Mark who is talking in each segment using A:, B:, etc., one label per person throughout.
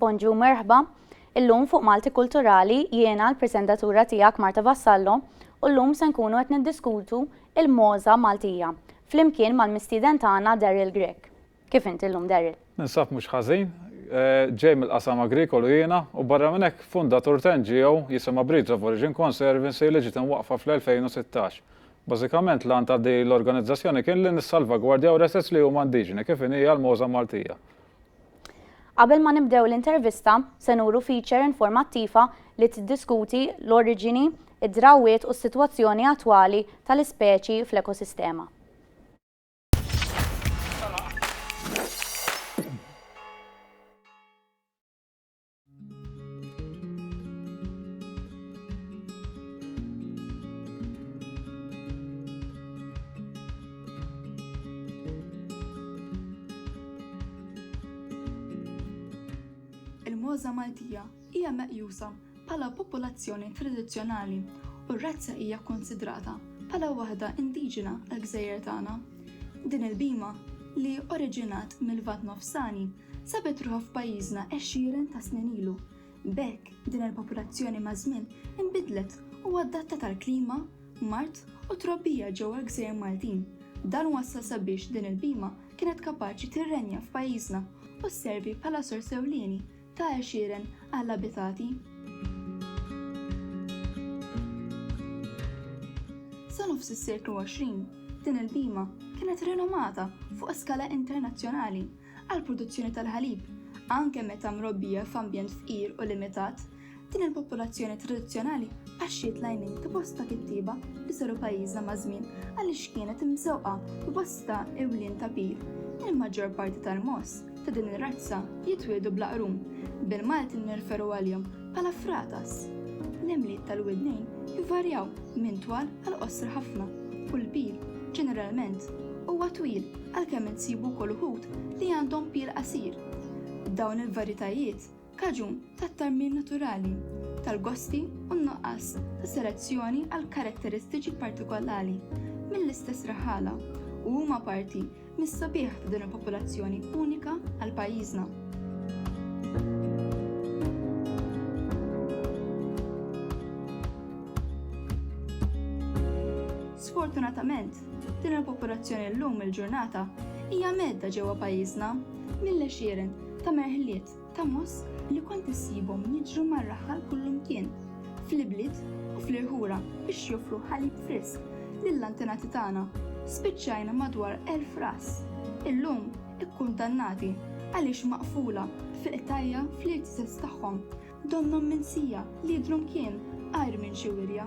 A: Bonġu merħba, illum fuq Malti Kulturali jiena l-presentatura tiegħek Marta Vassallo u llum se nkunu qed niddiskutu il-moża Maltija flimkien mal-mistieden tagħna Daryl Grech. Kif inti llum Daryl? Ninsab mhux ħażin,
B: ġej mill-qasam agrikolu jiena u barra minn hekk fundatur t'NGO jisimha Breeds of Origin Conservancy li ġiet imwaqqfa fl-2016 Bażikament l-għan ta' din l-organizzazzjoni kien li nissalvagwardjaw l-assets li huma indiġeni, kif inhi hija l-Moża Maltija.
A: Qabel ma nibdew l-intervista, se nuru feature informattiva li tiddiskuti l-oriġini, id-drawwiet u s-sitwazzjoni attwali tal-ispeċi fl-ekosistema.
C: il-mogħża Maltija hija meqjusa bħala popolazzjoni tradizzjonali u r-razza hija kkunsidrata bħala waħda indiġena għall-gżejjer tagħna. Din il-bhima, li oriġinat mill-Lvant Nofsani, sabet ruħha f'pajjiżna għexieren ta' snin ilu. B'hekk, din il-popolazzjoni maż-żmien inbidlet u adattat għall-klima, mard u trobbija ġewwa l-gżejjer Maltin. Dan wassal sabiex din il-bhima kienet kapaċi tirrenja f'pajjiżna u sservi bħala sors ewlieni ta' għexieren għall-abitati. Sa nofs is-seklu 20, din il-bhima kienet rinomata fuq skala internazzjonali għall-produzzjoni tal-ħalib, anke meta mrobbija f'ambjent fqir u limitat, din il-popolazzjoni tradizzjonali qaxxiet l-għajnejn ta' bosta kittieba li żaru pajjiżna maż-żmien għaliex kienet imżewqa b'bosta iwlien tapir. Il-maġġor parti tal-mogħoż ta' din ir-razza jitwieldu bla qrum, bil-Malti nirreferu għalihom Bħala fratas, l-għemliet tal-widnejn jvarjaw minn twal għal qosra ħafna u l-pil, ġeneralment, huwa twil għalkemm insibu wkoll uħud li għandhom pil qasir. Dawn il-varjetajiet kaġun tat-tarmim naturali tal-gosti u n-nuqqas ta' selezzjoni għal karatteristiċi partikolali mill-istess raħala u huma parti mis-sabiħ ta' din il-popolazzjoni unika għal pajjiżna. Sfortunatament, din il-popolazzjoni llum il-ġurnata hija medda ġewwa pajjiżna mill-għexieren ta' merħliet ta' moss li kont issibhom jiġru mar-raħal kullimkien, fl-ibliet u fl-irħura biex joffru ħalib frisk lill-antenati tagħna, spiċċajna madwar elf ras, illum ikkundannati għaliex maqfula fil-qtajja' fl-irtises tagħhom, donnhom minsija li jidhrom kien għajr minn xi wirja.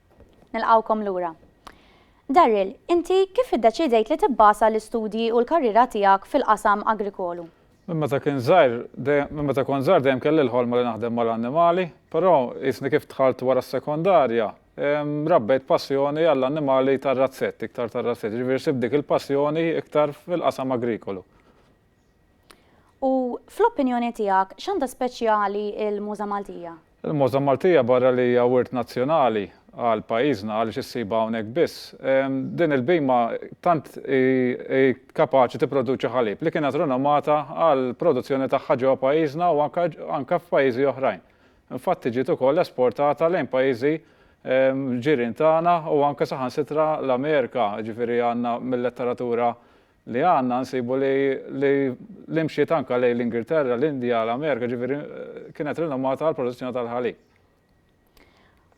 A: Nilqgħukom lura. Darryl, inti kif iddeċidejt li tibbasa l-istudji u l-karriera tiegħek fil-qasam agrikolu? Minn meta kien
B: żgħir, minn meta kont żgħir dejjem kelli l-ħolma li naħdem mal-annimali, però qisni kif dħalt wara s-sekondarja, rabbejt passjoni għall-annimali tar-razzett, iktar tar-razzett, jiġifieri sibt dik il-passjoni iktar fil-qasam agrikolu.
A: U fl-opinjoni tiegħek, x'għandha speċjali l-Muża Maltija? Il-Muża Maltija
B: barra li hija wirt nazzjonali għal pajjiżna għaliex issibha hawnhekk biss, din il-bhima tant hi kapaċi tipproduċi ħalib li kienet rinomata għall-produzzjoni tagħha ġewwa pajjiżna u anke f'pajjiżi oħrajn. Infatti ġiet ukoll esportata lejn pajjiżi ġirien tagħna u anke saħansitra l-Amerika, jiġifieri għandna mil-letteratura li għandna nsibu li li mxiet anke lejn l-Ingilterra, l-Indja, l-Amerika, ġifieri kienet rinomata għal produzzjoni tal-ħalib.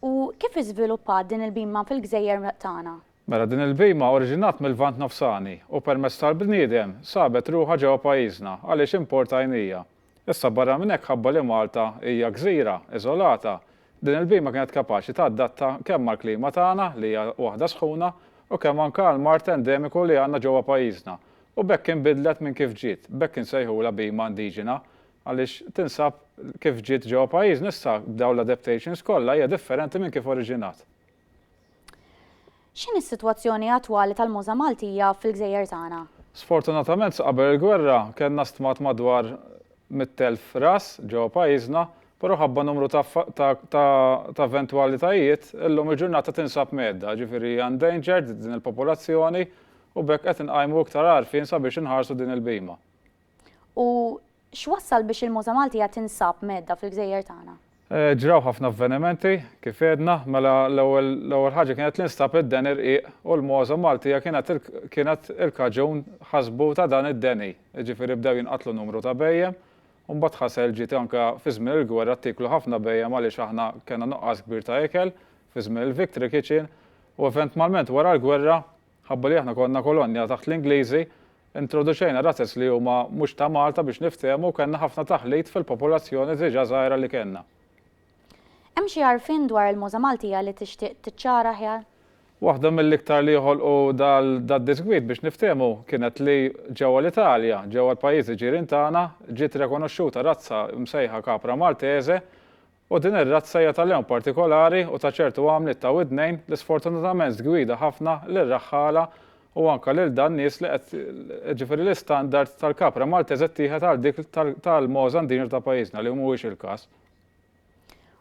A: U kif iżviluppat din il-bhima fil-gżejjer tagħna? Mela din il-bhima
B: oriġinat mill-Lvant Nofsani u permezz tal-bniedem sabet ruħha ġewwa pajjiżna għaliex importajnija. Issa barra minn hekk ħabba li Malta hija gżira, iżolata, din il-bhima kienet kapaċi tadatta kemm mal-klima tagħna li hija waħda sħuna u kemm anke għall-mard endemiku li għandna ġewwa pajjiżna u b'hekk inbidlet minn kif ġiet, b'hekk insejħulha bhima indiġena għaliex tinsab kif ġiet ġewwa pajjiżna issa b'dawn l-adaptations kollha hija differenti minn kif oriġinat.
A: X'inhi s-sitwazzjoni attwali tal-mogħża Maltija fil-gżejjer tagħna?
B: Sfortunatament sa qabel il-gwerra kellna stmat madwar mitt elf ras ġewwa pajjiżna, però ħabba numru ta' ta' ta' eventwalitajiet, illum il-ġurnata tinsab mgħedda, jiġifieri hija endangered din il-popolazzjoni u b'hekk qed inqajmu iktar għarfien sabiex inħarsu din il-bhima. U
A: x'wassal biex il-muża Maltija tinsab mgħeddha fil-gżejjer tagħna? Ġraw ħafna
B: avvenimenti, kif għedna, mela l-ewwel ħaġa kienet li nstab id-deni rqiq u l-muża Maltija kienet il-kaġun ħasbu ta' dan id-deni. Jiġifieri bdew jinqatlu numru ta' bhejjem u mbagħad ħasel ġiet anke fi żmien il-gwerra ttieklu ħafna bhejjem għaliex aħna kellna nuqqas kbir ta' ikel fi żmien il-victory kitchen u eventmalment wara l-gwerra Nħabbu li aħna konna kolonja taħt l-Ingliżi, introduċejna razez li huma mhux ta' Malta biex niftehmu u kellna ħafna taħlit fil-popolazzjoni diġà żgħira li kellna.
A: Hemm xi għarfien dwar il-muża Maltija li tixtieq tiċċara aħjar? Waħda mill-iktar
B: li ħolqu dal-diżgwid biex niftehmu kienet li ġewwa l-Italja, ġewwa l-pajjiżi ġirien tagħna, ġiet rekonoxxuta razza msejħa Capra Maltese U din ir-razza hija ta' lewn partikolari u ta' ċertu għamliet ta' widnejn li sfortunatament tgwida ħafna lir-raħħala u anke lil dan nies li qed jiġifieri l-istandard tal-kapra Maltese ttieħed għal dik tal-mogħoż Andinjo ta' pajjiżna li mhuwiex il-każ.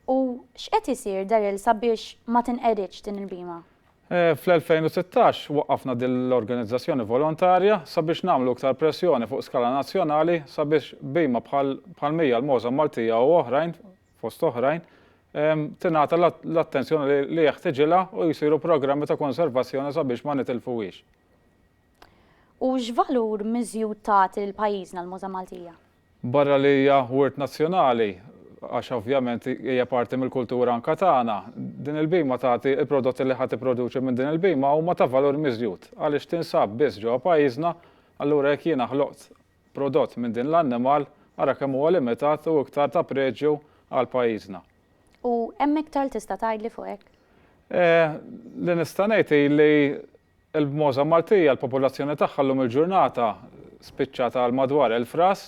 A: U x'qed isir Daryl sabiex ma tinqeridx din il-bhima? Fl-2016
B: waqqafna din l-organizzazzjoni volontarja sabiex nagħmlu iktar pressjoni fuq skala nazzjonali sabiex bhima bħal bħall-mija l-mogħża Maltija u oħrajn, fost oħrajn, tingħata l-attenzjoni li jeħtiġilha u jsiru programmi ta' konservazzjoni sabiex ma nitilfuhiex.
A: U x'valur miżjud tagħti lil pajjiżna l-mogħża Maltija? Barra li hija
B: wirt nazzjonali, għax ovvjament hija parti mill-kultura anke tagħna, din il-bhima tagħti, il-prodotti li ħa tipproduċi minn din il-bhima huma ta' valur miżjud għaliex tinsab biss ġewwa pajjiżna, allura jekk jiena ħloqt prodott minn din l-annimal, ara kemm huwa limitat u iktar ta' preġju għal pajjiżna. U hemm
A: iktar li tista' tgħidli fuq hekk? Eh,
B: li nista' ngħid hi li Il-bmoża Maltija, l-popolazzjoni tagħha llum il-ġurnata spiċċat għal madwar elf ras,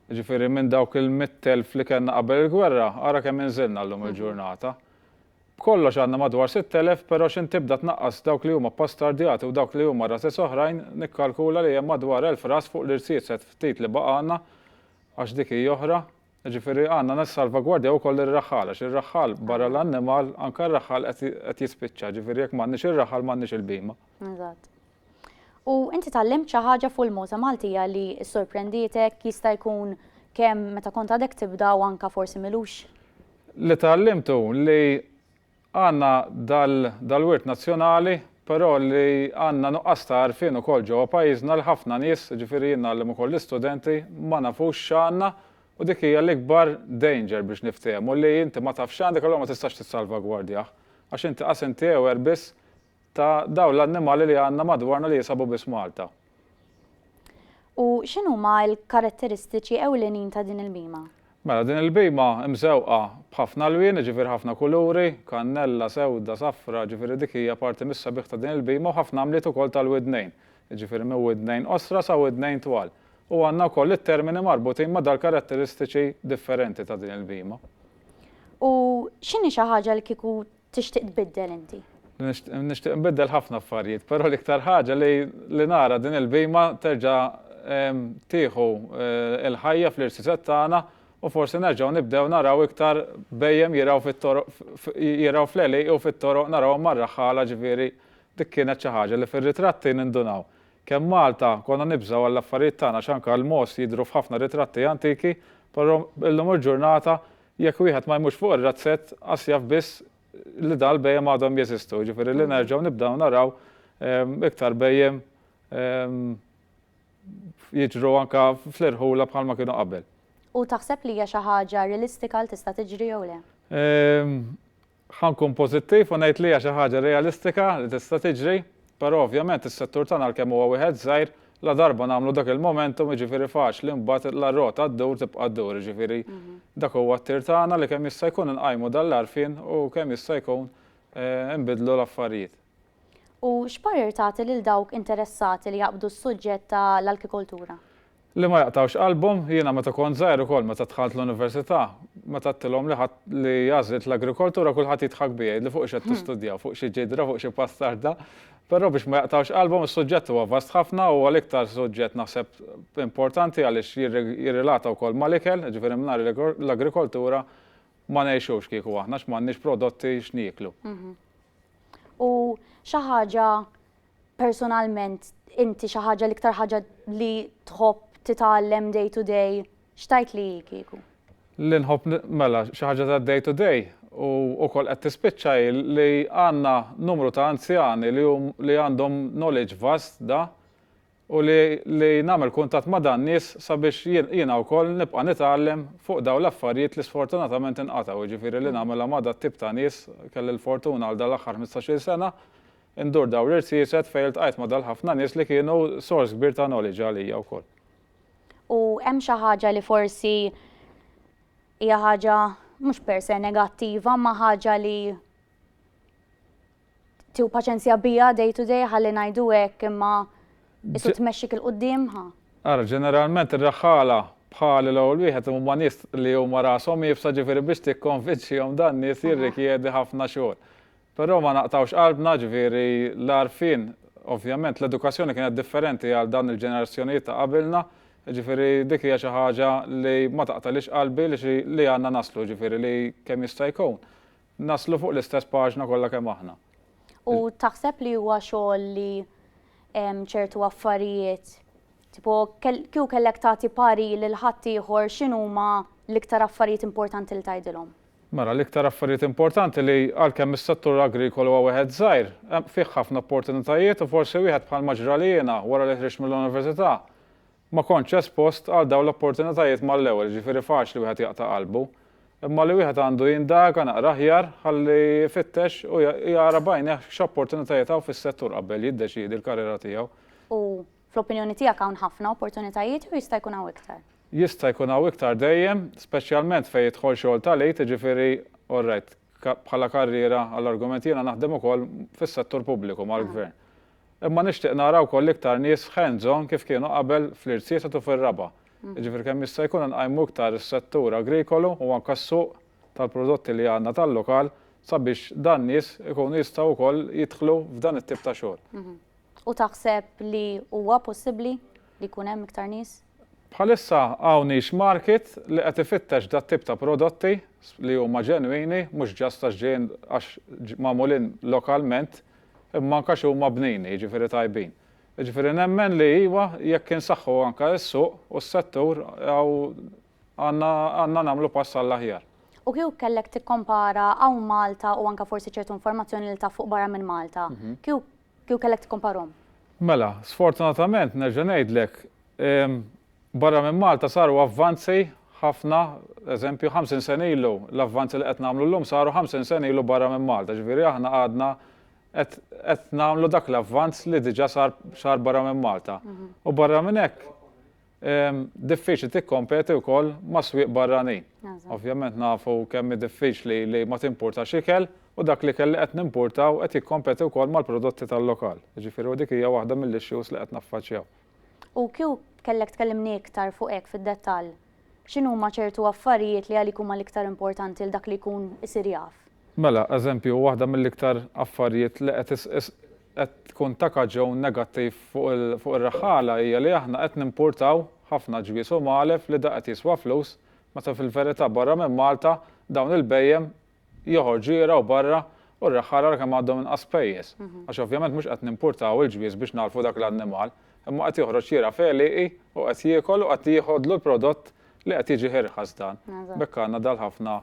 B: jiġifieri minn dawk il-mitt elf li kellna qabel il-gwerra, ara kemm inżilna llum il-ġurnata. B'kollox għandna madwar sitt elef, però x'int tibda tnaqqas dawk li huma bbastardjati u dawk li huma razez oħrajn, nikkalkula li hemm madwar elf ras fuq l-irsiset ftit li baqgħalna, għax dik hi oħra. Jiġifieri għandna nissalvagwardjaw ukoll ir-raħħal għax ir-raħħal barra l-annimal anke r-raħħal qed jispiċċa, jiġifieri jekk m'għandniex ir-raħħal m'għandniex il-bhima. Eżatt.
A: U inti tgħallimt xi ħaġa fuq il-muża Maltija li ssorprendietek jista' jkun kemm meta kont għadek tibda u anke forsi milux? Li
B: tgħallimtu li Għandna dal-wirt nazzjonali, però li għandna nuqqas ta' għarfien ukoll ġewwa pajjiżna li ħafna nies, jiġifieri jien ngħallem ukoll l-istudenti, ma nafux x'għandna u dik hija l-ikbar danger biex niftehmu li inti ma tafx x'għandek allura ma tistax tissalvagwardjah għax inti qas intewer biss ta' dawn l-annimali li għandna madwarna li jinsabu biss Malta.
A: U x'inhuma l-karatteristiċi ewlenin ta' din il-bhima? Mela, din il-bhima
B: mżewqa b'ħafna lwien, jiġifieri ħafna kuluri, kannella, sewda, safra, jiġifieri dik hija parti mis-sabiħ ta' din il-bhima u ħafna għamliet ukoll tal-widnejn, jiġifieri minn widnejn qosra sa widnejn twal. U għandna wkoll it-termini marbutin ma' dal-karatteristiċi differenti ta' din il-bhima. U
A: x'inhi xi ħaġa li kieku tixtieq tbiddel inti? Nixtieq
B: nbiddel ħafna affarijiet, però l-iktar ħaġa li li nara din il-bhejma terġa' tieħu l-ħajja fl-irsisett tagħna u forsi nerġgħu nibdew naraw iktar bhejjem jirgħu fit-toroq jirgħu fl-għelieqi u fit-toroq narawhom mar-raħħala ġifieri dik kienet xi ħaġa li fir-ritratti nindunaw kemm Malta konna nibżgħu għall-affarijiet tagħna għax anke l-mogħoż jidhru f'ħafna ritratti antiki però llum il-ġurnata Jekk wieħed ma jmurx fuq ir-razzett, qas jaf biss li dawn il-bhejjem għadhom jeżistu, jiġifieri li nerġgħu nibdew naraw iktar bhejjem jiġru anke fl-irħula bħalma kienu qabel. U taħseb li
A: hija xi ħaġa realistika li tista' tiġri jew le? Ħa
B: nkun pożittiv u ngħid li hija xi ħaġa realistika li tista' tiġri, però ovvjament is-settur tagħna għalkemm huwa wieħed żgħir, ladarba nagħmlu dak il-momentum jiġifieri faċli mbagħad la r-rota ddur tibqa' ddur, jiġifieri dak huwa t-tir tagħna li kemm jista' jkun inqajmu dan l-għarfien u kemm jista' jkun inbiddlu l-affarijiet. U
A: x'parir tagħti lil dawk interessati li jaqbdu s-suġġett ta' l-alkikoltura?
B: Li ma jaqtgħux qalbhom, jiena meta kont żgħir ukoll meta dħalt l-università, meta għedtilhom li ħadd li għażilt l-agrikoltura kulħadd jidħak bija jgħidli fuq x'qed tistudjaw, fuq xi ġidra, fuq xi pastarda. Però biex ma jaqtgħux qalbhom is-suġġett huwa vast ħafna, huwa l-iktar suġġett naħseb importanti għaliex jirrilata wkoll ma' l-ikel, jiġifieri mingħajr l-agrikoltura ma ngħixux kieku aħna għax m'għandniex prodotti x'nieklu.
A: U xi ħaġa personalment inti xi ħaġa l-iktar ħaġa li tħobb titgħallem day to day x'tajt li kieku? Li nħobb
B: mela xi ħaġa ta' day to day u wkoll qed tispiċċa li għandna numru ta' anzjani li għandhom knowledge vast da u li li nagħmel kuntatt ma' dan nies sabiex jiena wkoll nibqa' nitgħallem fuq dawn l-affarijiet li sfortunatament inqatgħu, jiġifieri li nagħmilha ma' dat-tip ta' nies, kelli l-fortuna għal dan l-aħħar ħmistax-il sena indur dawn l-irsiset fejn iltqajt ma' dal-ħafna nies li kienu sors kbir ta' knowledge għalija wkoll. U hemm xi ħaġa
A: li forsi hija ħaġa mhux per se negattiva imma ħaġa li tiegħu paċenzja bija day to day ħalli ngħidu hekk imma isu tmexxik il quddiem ħa. Ara, ġeneralment
B: ir-raħħala bħali l-ewwel wieħed huma nies li huma rashom iebsa ġifieri biex tikkonvinċihom dan nies jirrikjedi ħafna xogħol. Però ma naqtgħux qalbna ġifieri l-għarfien ovvjament l-edukazzjoni kienet differenti għal dan il-ġenerazzjonijiet ta' qabilna, ġifieri dik hija xi ħaġa li ma taqtalix qalbi li għandna naslu ġifieri li kemm jista' jkun. Naslu fuq l-istess paġna kollha kemm aħna. U
A: taħseb li huwa xogħol li ċertu affarijiet Tipo, kju kellek tagħti pari lil ħadd ieħor x'inhuma l-iktar affarijiet importanti li tgħidilhom? Mela, l-iktar
B: affarijiet importanti li għalkemm is-settur agrikolu huwa wieħed żgħir, fih ħafna opportunitajiet u forsi wieħed bħal maġra li jiena wara li ħriġt mill-università Ma kontx espost għal dawn l-opportunitajiet mal-ewwel, jiġifieri faċli wieħed jaqta' qalbu. Imma li wieħed għandu jindaga naqra aħjar ħalli jfittex u jara b'għajnejh x'opportunitajiet hawn fis-settur qabel jiddeċiedi l-karriera tiegħu. U
A: fl-opinjoni tiegħek hawn ħafna opportunitajiet jew jista' jkun hawn iktar? Jista' jkun hawn
B: iktar dejjem, speċjalment fejn jidħol xogħol ta' l-għid, jiġifieri, all right, bħala karriera għall-argument jiena naħdem ukoll fis-settur pubbliku mal-gvern. Imma nixtieq nara wkoll iktar nies hands on kif kienu qabel fl-Irtiesat u fir-Raba'. Jiġifieri kemm jista' jkun inqajmu iktar is-settur agrikolu u anke s-suq tal-prodotti li għandna tal-lokal sabiex dan nies ikunu jistgħu wkoll jidħlu f'dan it-tip ta' xogħol. U taħseb
A: li huwa possibbli li jkun hemm iktar nies? Bħalissa
B: hawn niche market li qed ifittex dat-tip ta' prodotti li huma ġenwini, mhux ġast għax ġejjin għax magħmulin lokalment, imma anke għax huma bnini, jiġifieri tajbin. Jiġifieri nemmen li iva, jekk insaħħu anke s-suq u s-settur għandna nagħmlu pass għall-aħjar. U kieku kellek
A: tikkompara hawn Malta u anke forsi ċertu informazzjoni li taf fuq barra minn Malta, kieku kellek tikkomparhom? Mela,
B: sfortunatament nerġa' ngħidlek, Barra minn Malta saru avvanzi ħafna, eżempju, 50 sena ilu l-avvanzi li qed nagħmlu llum saru 50 sena ilu barra minn Malta, ġifieri aħna għadna qed qed nagħmlu dak l-avvanz li diġà sar sar barra minn Malta. U barra minn hekk diffiċli tikkompeti wkoll ma' swieq barranin. Ovvjament nafu kemm hi diffiċli li ma timpurtax ikel u dak l-ikel li qed nimpurtaw qed jikkompeti wkoll mal-prodotti tal-lokal. Jiġifieri u dik hija waħda mill-issues li qed naffaċċjaw. U kieku
A: kellek tkellimni iktar fuq hekk fid-dettall, x'inhuma ċertu affarijiet li għalik huma l-iktar importanti għal dak li jkun isir jaf? Mela, eżempju,
B: waħda mill-iktar affarijiet li qed qed tkun ta' kaġun negattiv fuq fuq ir-raħħala hija li aħna qed nimpurtaw ħafna ġwież u magħlef li da qed jiswa flus meta fil-verità barra minn Malta dawn il-bhejjem joħorġu jirgħu barra u r-reħħ ħarar kemm għandhom inqas pejjeż. Għax ovvjament mhux qed nimpurtaw il-ġwież biex nagħlfu dak l-annimal, imma qed joħroġ jirgħa f'għelieqi u qed jiekol u qed jieħodlu l-prodott li qed jiġi irħas dan. B'hekk għandna dal-ħafna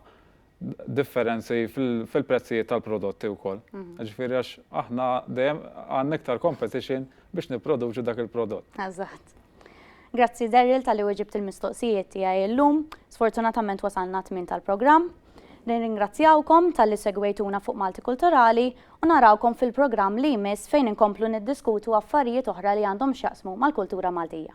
B: differenzi fil-prezzijiet tal-prodotti wkoll. Ġifieri għax aħna dejjem għandna iktar competition biex nipproduċu dak il-prodott. Eżatt.
A: Grazzi Daryl tal-li weġibt il-mistoqsijiet tiegħi llum. Sfortunatament wasalna t-tmiem tal-programm. Nirringrazzjawkom talli segwejtuna fuq Malti Kulturali u narawkom fil-programm li jmiss fejn inkomplu niddiskutu affarijiet oħra li għandhom x'jaqsmu mal-kultura Maltija.